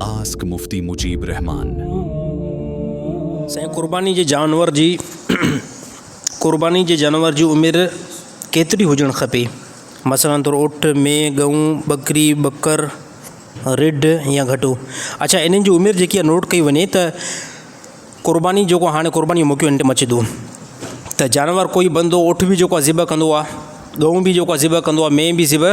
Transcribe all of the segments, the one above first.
Ask Mufti Mujib Rahman. سائين قرباني جي جانور جي قرباني جي جانور جي عمر ڪيتري هجڻ کپي مثلا طور اٺ، مينهن، ڳئون، ٻڪري، ٻڪر، رڍ يا گهٽو اڇا انهن جي عمر جيڪي نوٽ ڪئي وڃي ته قرباني جيڪو هاڻي قرباني جو موقعو ان ٽيم اچي ٿو ته جانور ڪوئي بندو اٺ به جيڪو ذبح ڪندو آهي ڳئون به جيڪو ذبح ڪندو آهي مينهن به ذبح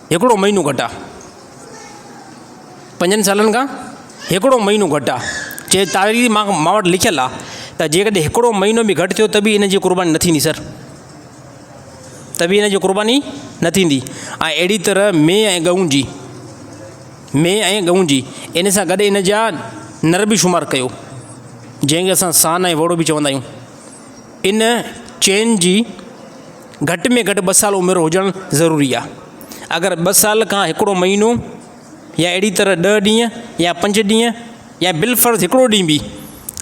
هڪڙو مهينو گهٽ آ پنجن سالن کان هڪڙو مهينو گهٽ آ چي تاريخ مان مان وٽ لکيل آ ته جي ڪڏهن هڪڙو مهينو به گهٽ ٿيو ته به ان جي قرباني نه ٿيندي سر ته به ان جي قرباني نه ٿيندي ۽ اهڙي طرح مينهن ۽ ڳئون جي مينهن ۽ ڳئون جي ان سان گڏ ان جا نر به شمار ڪيو جنهن کي اسان سان ۽ وڙو به چوندا آهيون ان چين جي گهٽ ۾ گهٽ ٻه سال عمر هجڻ ضروري آهي. اگر ٻه سال کان هڪڙو مهينو يا اهڙي طرح ڏهه ڏينهن يا پنج ڏينهن يا بالفرض هڪڙو ڏينهن به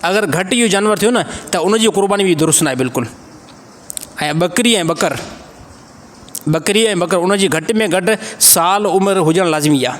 اگر گهٽ اهو جانور ٿيو نه ته ان جي قرباني به درست ناهي بلڪل ۽ ٻڪري ۽ ٻڪر ٻڪري ۽ ٻڪر ان جي گهٽ ۾ گهٽ سال عمر هجڻ لازمي آهي.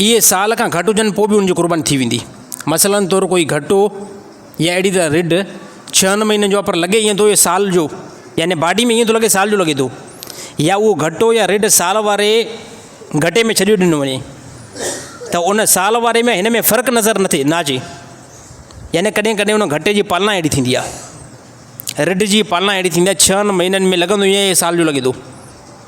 اهي سال کان گهٽ هجن پوء به ان جي قرباني ٿي ويندي. مثلا طور ڪوئي گهٽو يا اهڙي طرح رڍ ڇهن مهينن جو آ پر لڳي ائين ٿو اهي سال جو يعني باڊي ۾ ائين ٿو لڳي سال جو لڳي ٿو يا اهو گهٽو يا رڍ سال واري گهٽي ۾ ڇڏيو ڏنو وڃي ته ان سال واري ۾ هن ۾ فرق نظر نه ٿي نه اچي يعني ڪڏهن ڪڏهن ان گهٽي جي پالنا اهڙي ٿيندي آ رڍ جي پالنا اهڙي ٿيندي آ ڇهن مهينن ۾ لڳندو ائين سال جو لڳي ٿو.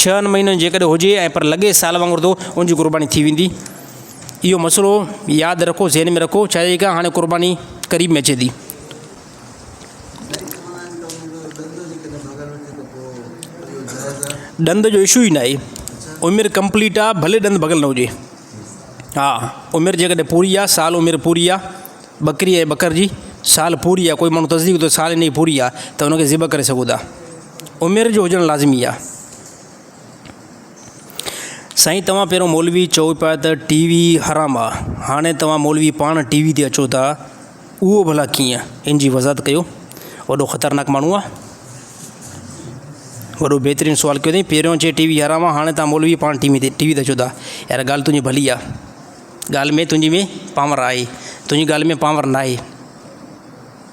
ڇهن مهينن جيڪڏهن هجي ۽ پر لڳي سال وانگر ته ان جي قرباني ٿي ويندي. اهو مسئلو ياد رکو ذهن ۾ رکو ڇاجي ڪا هاڻي قرباني قريب ۾ اچي ٿي. ڏند جو اشو ئي ناهي عمر ڪمپليٽ آ ڀلي ڏند ڀڳل نه هجي ها عمر جيڪڏهن پوري آ سال عمر پوري آ ٻڪري ۽ ٻڪر جي سال پوري آ ڪوئي ماڻهو تصديق ته سال هن جي پوري آ ته هن کي ذبح ڪري سگهو ٿا. عمر جو هجڻ لازمي آ. سائين توهان پهريون مولوي چئو پيا ته ٽي وي حرام آ هاڻي توهان مولوي پاڻ ٽي وي تي اچو ٿا اهو ڀلا ڪيئن ان جي وضاحت ڪيو وڏو خطرناڪ ماڻهو آ وڏو بهترين سوال ڪيو اٿئي پهريون چئي ٽي وي حرام آ هاڻي توهان مولوي پاڻ ٽي وي تي ٽي وي تي اچو ٿا يار ڳالهه تنهنجي ڀلي آ ڳالهه ۾ تنهنجي ۾ پاور آهي تنهنجي ڳالهه ۾ پاور ناهي.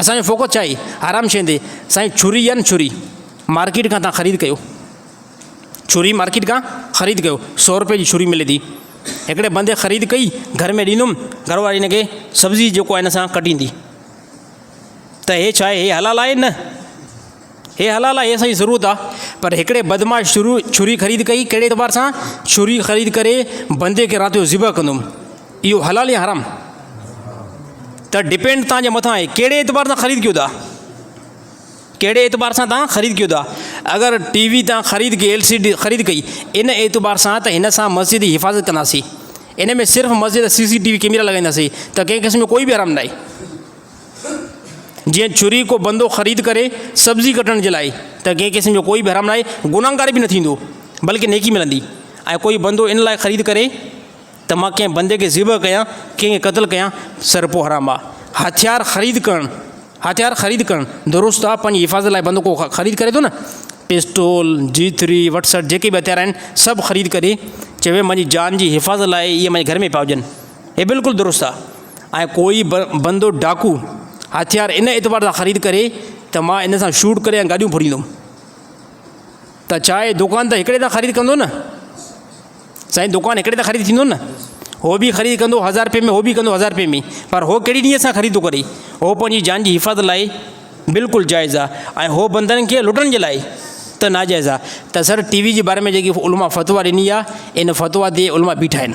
اسان جو فوڪس ڇا هي حرام شين تي سائين چھري يا نه چھري مارڪيٽ کان تان خريد ڪيو چھري مارڪيٽ کان خريد ڪيو سو روپئي جي چھري ملي ٿي هڪڙي بندي خريد ڪئي گھر ۾ ڏيندم گھر واري هن کي سبزي جيڪو آهي هن سان ڪٽيندي ته هي ڇا آهي هي حلال آهي نه هي حلال آهي سائين ضرور ته پر هڪڙي بدمعاش شروع ڇري خريد ڪئي ڪهڙي اعتبار سان ڇري خريد ڪري بندي کي رات جو ذبح ڪندم اهو حلال يا حرام ته ڊپينڊ تان جي مٿان آهي ڪهڙي اعتبار سان خريد ڪيو ٿا ڪهڙي اعتبار سان تان خريد ڪيو ٿا اگر ٽي وي تان خريد ڪئي ايل سي ڊي خريد ڪئي ان اعتبار سان ته هن سان مسجد جي حفاظت ڪنداسين ان ۾ صرف مسجد CCTV camera لڳائينداسين ته ڪنهن قسم جو ڪوئي به حرام ناهي جيئن ڇري ڪو بندو خريد ڪري سبزي ڪٽڻ جي لاء ته ڪنهن قسم جو ڪوئي به حرام ناهي گناهگار به نه ٿيندو بلڪه نيڪي ملندي ۽ ڪوئي بندو ان لاء خريد ڪري ته مان ڪنهن بندي کي ذبح ڪيان ڪنهن کي قتل ڪيان سرپو حرام آ هٿيار خريد ڪرڻ هٿيار خريد ڪرڻ درست آ پنهنجي حفاظت لاء بندو ڪو خريد ڪري ٿو نه پسٽول جيٿري وٽسر جيڪي به هٿيار آهن سڀ خريد ڪري چوي منهنجي جان جي حفاظت لاء اهي منهنجي گهر ۾ پيا هجن هي بلڪل درست آ ۽ ڪوئي به بندو ڊاڪو هٿيار ان اعتبار سان خريد ڪري ته مان ان سان شوٽ ڪري ۽ گاڏيون ڦريندم ته ڇا اهي دڪان ته هڪڙي تان خريد ڪندو نه سائين دڪان هڪڙي تان خريد ٿيندو نه هو به خريد ڪندو هزار رپئي ۾ هو به ڪندو هزار رپئي ۾ پر هو ڪهڙي نيت سان خريد ٿو ڪري هو پنهنجي جان جي حفاظت لاء بلڪل جائز آ ۽ هو بندن کي لٽڻ جي لاء ته ناجائز آ ته سر ٽي وي جي باري ۾ جيڪي علماء فتويٰ ڏني آ ان فتويٰ تي علماء بيٺا آهن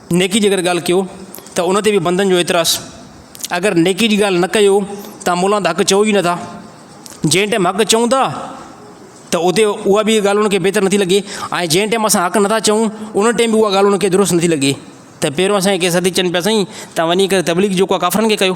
نيڪي جي اگر ڳالهه ڪيو ته ان تي به بندن جو اعتراض، اگر نيڪي جي ڳالهه نه ڪيو تان مولان ته حق چئو ئي نٿا، جنهن ٽيم حق چئون ٿا ته اتي اها به ڳالهه ان کي بهتر نٿي لڳي ۽ جنهن ٽيم اسان حق نٿا چئون ان ٽيم به اها ڳالهه ان کي درست نٿي لڳي ته پهريون اسان کي ڪي سڌي چئن پيا سائين تان وڃي ڪري تبليغ جيڪو ڪافرن کي ڪيو.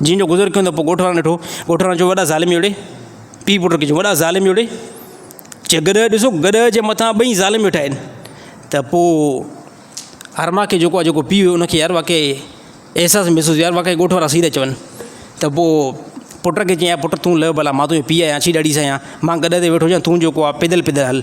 جنھن جو گذر ڪيون ته پوء ڳوٺ وارن ڏٺو، ڳوٺ وارن چيو وڏا ظالم جوڙي، پيء پٽ کي چيو وڏا ظالم جوڙي، چي گڏهه ڏسو گڏهه جي مٿان ٻئي ظالم ويٺا آهن، ته پوء ارما کي جيڪو آهي جيڪو پيء هيو ان کي يار واقعي احساس محسوس ٿيو يار واقعي ڳوٺ وارا صحيح ٿا چون، ته پوء پٽ کي چيائين پٽ تون لهه ڀلا مان تنهنجو پيء آهيان ڇي ڏاڏي سان آهيان، مان گڏهه تي ويٺو هجان تون جيڪو آهي پيدل پيدل هل،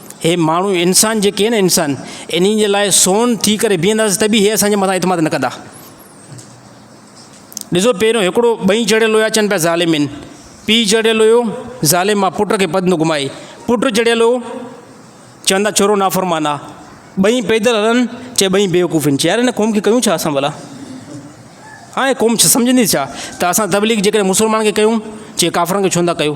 هي ماڻهو انسان جيڪي آهن انسان انهن جي لاء سون ٿي ڪري بيهنداسين ته به هي اسان جي مٿان اعتماد نه ڪندا ڏسو پهريون هڪڙو ٻئي چڙيل هيا چن پيا ظالمين پيء چڙيل هيو ظالم ماء پٽ کي پد نه گھمائي پٽ چڙيل هو چون ٿا ڇورو نافرمان آهي ٻئي پيدل هلن چي ٻئي بيوقوف آهن چيار هن قوم کي ڪيون ڇا اسان ڀلا هاڻي قوم سمجھندي ڇا ته اسان تبليغ جيڪڏهن مسلمان کي ڪيون چي ڪافرن کي ڇو نٿا ڪيو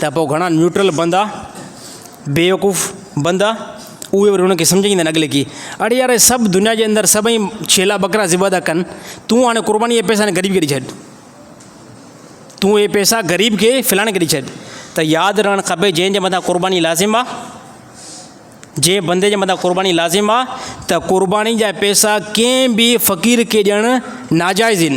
ته پوء گهڻا نيوٽرل بندا، بيوقوف بندا، اهي وري هن کي سمجهائيندا آهن اڳلي کي، اڙي يار اهي سڀ دنيا جي اندر سڀئي ڇيلا ٻڪرا ذبح ٿا ڪن، تون هاڻي قرباني اهي پئسا هن غريب کي ڏئي ڇڏ. تون اهي پئسا غريب کي فلاڻي کي ڏئي ڇڏ. ته ياد رهڻ کپي جنهن جي مٿان قرباني لازم آهي، جنهن بندي جي مٿان قرباني لازم آهي ته قرباني جا پئسا ڪنهن به فقير کي ڏيڻ ناجائز آهن.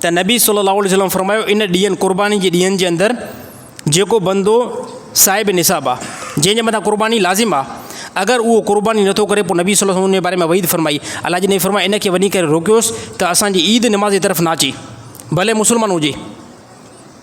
ته نبي صلي الله عليه وسلم فرمايو، ان ڏينهن، قرباني جي ڏينهن، جي اندر جيڪو بندو صاحب نصاب آ، جنهن جي مٿان قرباني لازم آ، اگر اهو قرباني نه ٿو ڪري پوء نبي صلي الله عليه وسلم ان جي باري ۾ وعيد فرمائي، الله جي نبي فرمايو، ان کي وڃي ڪري روڪيوس ته اسان جي عيد نماز جي طرف نه اچي، ڀلي مسلمان هجي.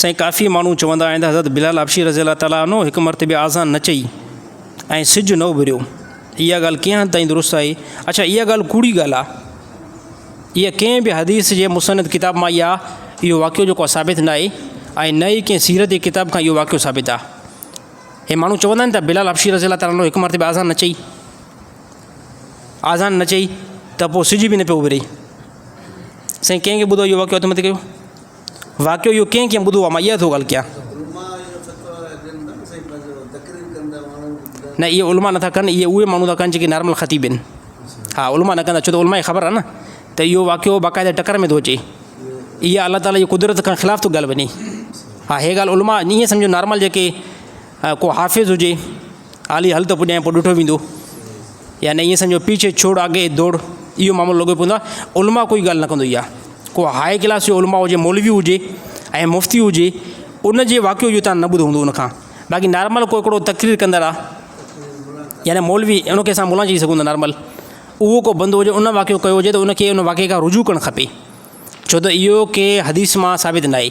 سائين ڪافي ماڻهو چوندا آهن ته حضرت بلال حبشي رضي الله تعالٰي عنه هڪ مرتبه آذان نه چئي ۽ سج نه اڀريو اها ڳالهه ڪئين حد تائين درست آهي اڇا اها ڳالهه ڪوڙي ڳالهه آهي اها ڪنهن به حديث جي مصند ڪتاب مان اها اهو واقعو جيڪو ثابت نه آهي ۽ نه ئي ڪنهن سيرت جي ڪتاب کان اهو واقعو ثابت آهي هي ماڻهو چوندا آهن ته بلال حبشي رضي الله تعالٰي عنه هڪ مرتبه آذان نه چئي آذان نه چئي ته پوء سج به نه پيو اڀري سائين ڪنهن کي ٻڌو اهو واقعو هٿ مٿي ڪيو واقعو اهو ڪئين ڪئين ٻڌو آ مان اها ٿو ڳالهه ڪيان. نه اهي علماء نٿا ڪن اهي اهي ماڻهو ٿا ڪن جيڪي نارمل خطيب آهن ها علماء نه ڪندا ڇو ته علماء کي خبر آ نه ته اهو واقعو باقاعده ٽڪر ۾ ٿو اچي اها الله تعالي جي قدرت کان خلاف ٿو ڳالهه وڃي ها هي ڳالهه علماء ني سمجهه نارمل جيڪي ڪو حافظ هجي عالي هل ته پڄائين پوء ڏٺو ويندو. يا نه ائين سمجهو پيڇي ڇوڙ آگي دوڙ اهو معاملو لڳو پيو هوندو علماء ڪوئي ڳالهه نه ڪندو يا ڪو هاء ڪلاس جو علماء هجي مولوي هجي ۽ مفتي هجي ان جي واقعو اهو توهان نه ٻڌو هوندو ان کان باقي نارمل ڪو هڪڙو تقرير ڪندڙ آ يا نه مولوي ان کي اسان مولانا چئي سگهون ٿا نارمل اهو ڪو بندو هجي ان واقعو ڪيو هجي ته ان کي ان واقعي کان رجوع ڪرڻ کپي ڇو ته اهو ڪنهن حديث مان ثابت ناهي.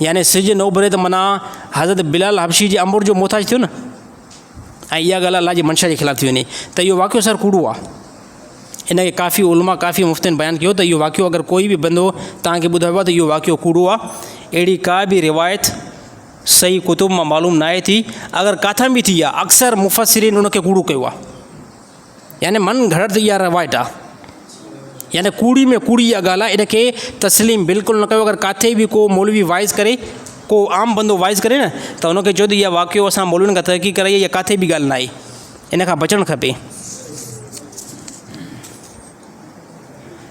يعني سج نه اڀري ته منان حضرت بلال حبشي جي امر جو محتاج ٿيو نه ۽ اها ڳالهه الله جي منشا جي خلاف ٿي وڃي ته اهو واقعو سر ڪوڙو آهي ان کي ڪافي علماء ڪافي مفتين بيان ڪيو ته اهو واقعو اگر ڪوئي به بندو تان کي ٻڌايو آهي ته اهو واقعو ڪوڙو آهي اهڙي ڪا به روايت صحيح ڪتب مان معلوم ناهي ٿي اگر ڪاٿان به ٿي آهي اڪثر مفسرين ان کي ڪوڙو ڪيو آهي يعني من گھڙت يا روايت آ. يعني ڪوڙي ۾ ڪوڙي اها ڳالهه آ ان کي تسليم بلڪل نه ڪيو اگر ڪاٿي به ڪو مولوي واعظ ڪري ڪو عام بندو واعظ ڪري نه ته ان کي چئو ته اها واقعو اسان مولوين کان تحقيق ڪرائي اها ڪاٿي به ڳالهه ناهي ان کان بچڻ کپي.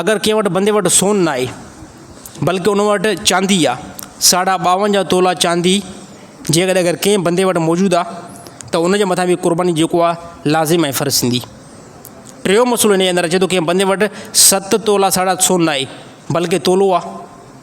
اگر ڪنهن وٽ بندي وٽ سون نه آهي، بلڪ ان وٽ چاندي آ، ساڍا ٻاونجاهه تولا چاندي جيڪڏهن اگر ڪنهن بندي وٽ موجود آ ته ان جي مٿان به قرباني جيڪو آ لازم ۽ فرض ٿيندي. ٽيون مسئلو ان جي اندر اچي ٿو ڪنهن بندي وٽ ست تولا ساڍا سون نه آهي، بلڪ تولو آ،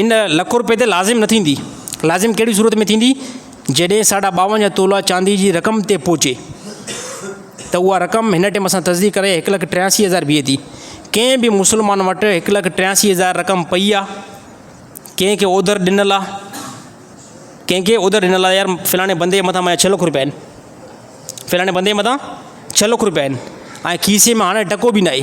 ان لک روپيه تي لازم نه ٿيندي. لازم ڪهڙي صورت ۾ ٿيندي؟ جيڏهن ساڍا ٻاونجهه تولا چاندي جي رقم تي پهچي ته اها رقم هن ٽيم سان تصديق ڪرائي هڪ لک ٽياسي هزار بيهي ٿي. ڪنهن به مسلمان وٽ هڪ لک ٽياسي هزار رقم پئي آ، ڪنهن کي اوڌر ڏنل آ، ڪنهن کي اوڌر ڏنل آ يار فلاڻي بندي مٿان منهنجا ڇهه لک روپيا آهن، فلاڻي بندي مٿان ڇهه لک روپيا آهن ۽ کيسي ۾ هاڻي ٽڪو به ناهي.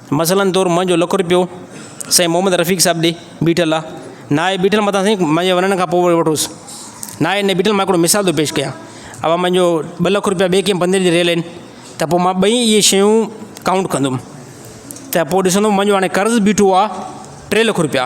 مثلاً طور منهنجو لک روپيو سائين محمد رفيق صاحب ڏي بيٺل آ ناهي بيٺل متان سائين منهنجي وڃڻ کان پوء وٺوس ناهي نه بيٺل مان هڪڙو مثال ٿو پيش ڪيان اوهان منهنجو ٻه لک روپيا ٻئي ڪنهن بندي ڏي رهيل آهن ته پوء مان ٻئي اهي شيون ڪائونٽ ڪندم ته پوء ڏسندم منهنجو هاڻي قرض بيٺو آ ٽي لک روپيا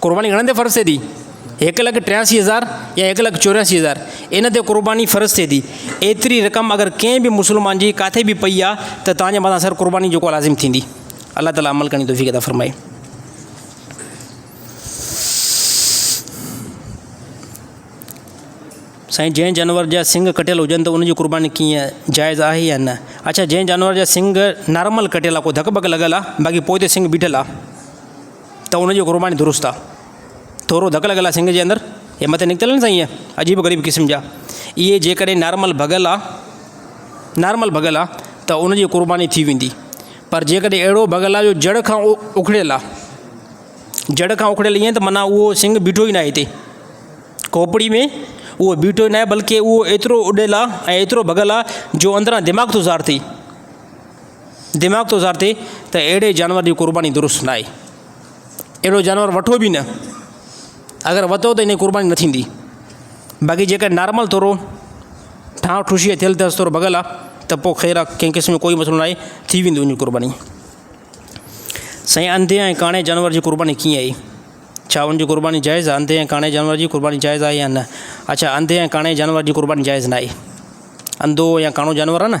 قرباني گهڻن تي فرض ٿئي ٿي؟ هڪ لک ٽياسي هزار يا هڪ لک چورياسي هزار ان تي قرباني فرض ٿئي ٿي. ايتري رقم اگر ڪنهن به مسلمان جي ڪاٿي به پئي آ ته توهان جي مٿان سر قرباني جيڪو لازم ٿيندي. الله تعالي عمل ڪرڻ جي توفيق عطا فرمائي. سائين جنهن جانور جا سنگ ڪٽيل هجن ته ان جي قرباني ڪيئن جائز آهي يا نه اڇا جنهن جانور جا سنگ نارمل ڪٽيل آ ڪو ڌڪ ٻڪ لڳل آ باقي پوئتي سنگ بيٺل آ. ته ان جي قرباني درست آ. ٿورو ڌڪ لڳل آ سنڱ جي اندر اهي مٿي نڪتل آهن سائين اهي عجيب و غريب قسم جا اهي جيڪڏهن نارمل ڀڳل آ نارمل ڀڳل آ ته ان جي قرباني ٿي ويندي پر جيڪڏهن اهڙو ڀڳل آ جو جڙ کان اکڙيل آ جڙ کان اکڙيل ايئن ته معنيٰ اهو سنڱ بيٺو ئي ناهي هتي کوپڙي ۾ اهو بيٺو ئي ناهي بلڪه اهو ايترو اڏيل آ ۽ ايترو ڀڳل آ جو اندران دماغ ٿو ظاهر ٿئي دماغ ٿو ظاھر ٿئي ته اھڙي جانور جي قرباني درست نه آھي. اھڙو جانور وٺو به نه. اگر وتو ته ان جي قرباني نه ٿيندي. باقي جيڪڏھن نارمل ٿورو ٺاھه ٺوشيء جي ٿيل ٿس ٿورو ڀڳل آ ته پوء خير آ ڪنھن قسم جو ڪوئي مسئلو ناھي ٿي ويندي ان جي قرباني. سائين انڌي ۽ ڪاڻي جانور جي قرباني ڪيئن آھي؟ ڇا ان جي قرباني جائز آ؟ انڌي ۽ ڪاڻي جانور جي قرباني جائز آھي يا نه؟ اڇا انڌي ۽ ڪاڻي جانور جي قرباني جائز نه آھي. انڌو يا ڪاڻو جانور آ نه.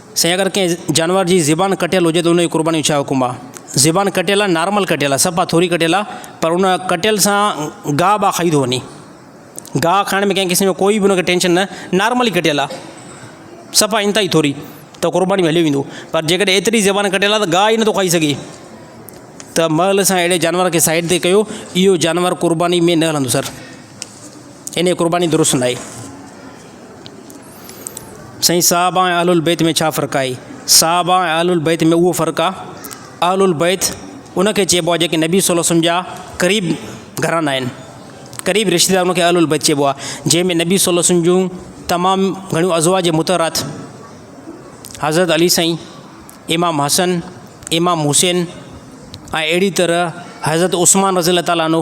سائين اگر ڪنهن جانور جي زبان ڪٽيل هجي ته ان جي قرباني جو ڇا حڪم آ. زبان ڪٽيل آ نارمل ڪٽيل آ صفا ٿوري ڪٽيل آ پر ان ڪٽيل سان گاهه ٻاهه کائي ٿو وڃي. گاهه کائڻ ۾ ڪنهن قسم جو ڪوئي به ان کي ٽينشن نه نارملي ڪٽيل آ صفا انتهائي ٿوري ته قرباني ۾ هليو ويندو پر جيڪڏهن ايتري زبان ڪٽيل آ ته گاهه ئي نٿو کائي سگهي ته مئل اسان اهڙي جانور کي سائيڊ تي ڪيو اهو جانور قرباني ۾ نه هلندو سر ان جي قرباني درست ناهي. سائين صحابه ۽ اهل البيت ۾ ڇا فرق آهي؟ صحابه ۽ اهل البيت ۾ اهو فرق آهي اهل البيت ان کي چئبو آهي جيڪي نبي صلي الله عليه وسلم جا قريب گهرانا آهن قريب رشتيدار ان کي اهل البيت چئبو آهي جنهن ۾ نبي صلي الله عليه وسلم جون تمام گهڻيون ازواج متحرات حضرت علي سائين امام حسن امام حسين اهڙي طرح حضرت عثمان رضي الله تعالٰي عنه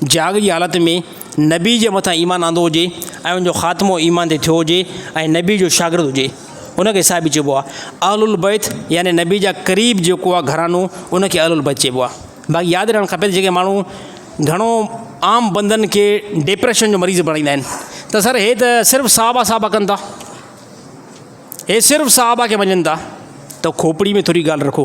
جهاڳ جي حالت ۾ نبي جي مٿان ايمان آندو هجي ۽ ان جو خاتمو ايمان تي ٿيو هجي ۽ نبي جو شاگرد هجي ان کي صحابي چئبو آهي. اهل البيت يعني نبي جا قريب جيڪو آهي گهراڻو ان کي اهل البيت چئبو آهي. باقي ياد رهڻ کپي ته جيڪي ماڻهو گهڻو عام بندن کي ڊپريشن جو مريض بڻائيندا آهن ته سر هي ته صرف صحابه صحابه ڪن ٿا هي صرف صحابه کي مڃن ٿا ته کوپڙي ۾ ٿوري ڳالهه رکو.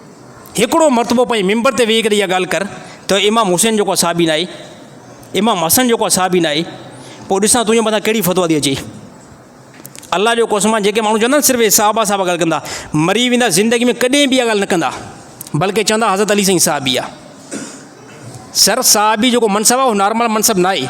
هڪڙو مرتبو پنهنجي منبر تي ويهي ڪري اها ڳالهه ڪر ته امام حسين جو ڪو اصحابي ناهي، امام حسن جو ڪو اصحابي ناهي، پوء ڏسان تنهنجي مٿان ڪهڙي فتويٰ ٿي اچي. الله جو قسم آهي جيڪي ماڻهو چوندا آهن صرف صحابه صحابه ڳالهه ڪندا، مري ويندا زندگي ۾ ڪڏهن به اها ڳالهه نه ڪندا بلڪه چوندا حضرت علي سائين صحابي آهي. سر صحابي جيڪو منصب آهي اهو نارمل منصب ناهي.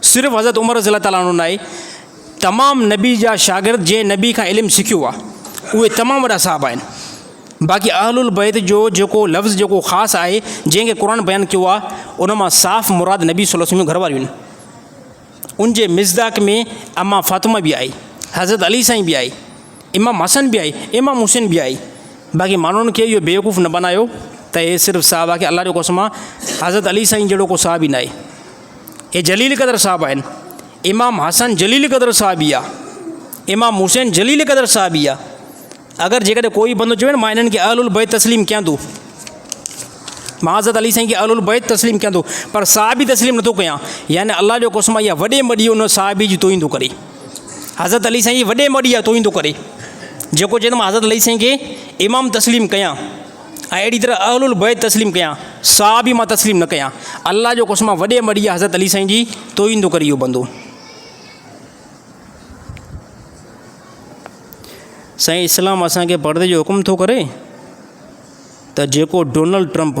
صرف حضرت عمر رضي الله تعالٰي عنه ناهي تمام نبي جا شاگرد جنهن نبي کان علم سکيو آهي اهي تمام وڏا صحابه آهن باقي اهل البيت جو جيڪو لفظ جيڪو خاص آهي جنهن کي قرآن بيان ڪيو آهي ان مان صاف مراد نبي صلي وسلم گهر واريون آهن ان جي مزداق ۾ اما فاطمه به آئي حضرت علي سائين به آئي امام حسن به آئي امام حسين به آئي باقي ماڻهن کي اهو بيوقوف نه بنايو ته هي صرف صحابه کي الله جو قسم حضرت علي سائين جهڙو ڪو صحابي نه آهي اهي جليل قدر صاحب آهن. امام حسن جليل قدر صاحب ئي آهي. امام حسين جليل قدر صاحب ئي آهي. اگر جيڪڏهن ڪو به بندو چوي نه مان هنن کي اهل البيت تسليم ڪيان ٿو. مان حضرت علي سائين کي اهل البيت تسليم ڪيان ٿو پر صحابي تسليم نٿو ڪيان يعني الله جو قسم آهي اها وڏي مڙي ان صحابي جي توهين ٿو ڪري. حضرت علي سائين جي وڏي مڙي جا توهين ٿو ڪري. جيڪو چوي ته مان حضرت علي سائين کي امام تسليم ڪيان. ۽ اهڙي طرح اهل البيت تسليم ڪيا، صحابي مان تسليم نه ڪيا، الله جو قسم آ وڏي مڙيئي حضرت علي سائين جي توهين ٿو ڪري اهو بندو. سائين اسلام اسان کي پڙدي جو حڪم ٿو ڪري ته جيڪو ڊونلڊ ٽرمپ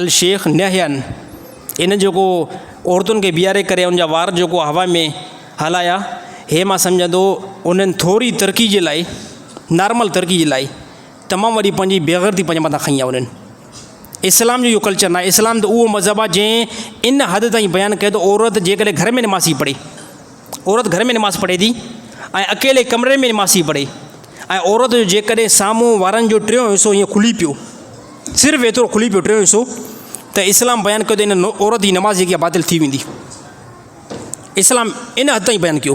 الشيخ نهيان ان جيڪو عورتن کي بيهاري ڪري ان جا وار جيڪو هوا ۾ هلايا هي مان سمجهان ٿو انهن ٿوري ترقي جي لاء نارمل ترقي جي لاء تمام وڏي پنهنجي بيغيرتي پنهنجي مٿان کڻي آيا انهن اسلام جو اهو ڪلچر ناهي اسلام ته اهو مذهب آهي جنهن ان حد تائين بيان ڪيو ته عورت جيڪڏهن گهر ۾ نماز ٿي پڙهي عورت گهر ۾ نماز پڙهي ٿي ۽ اڪيلي ڪمري ۾ نماز ٿي پڙهي ۽ عورت جو جيڪڏهن سامهون وارن جو ٽيون حصو ائين کلي پيو صرف ايترو کلي پيو ٽيون حصو ته اسلام بيان ڪيو ته ان عورت جي نماز جيڪي باطل ٿي ويندي اسلام ان حد تائين بيان ڪيو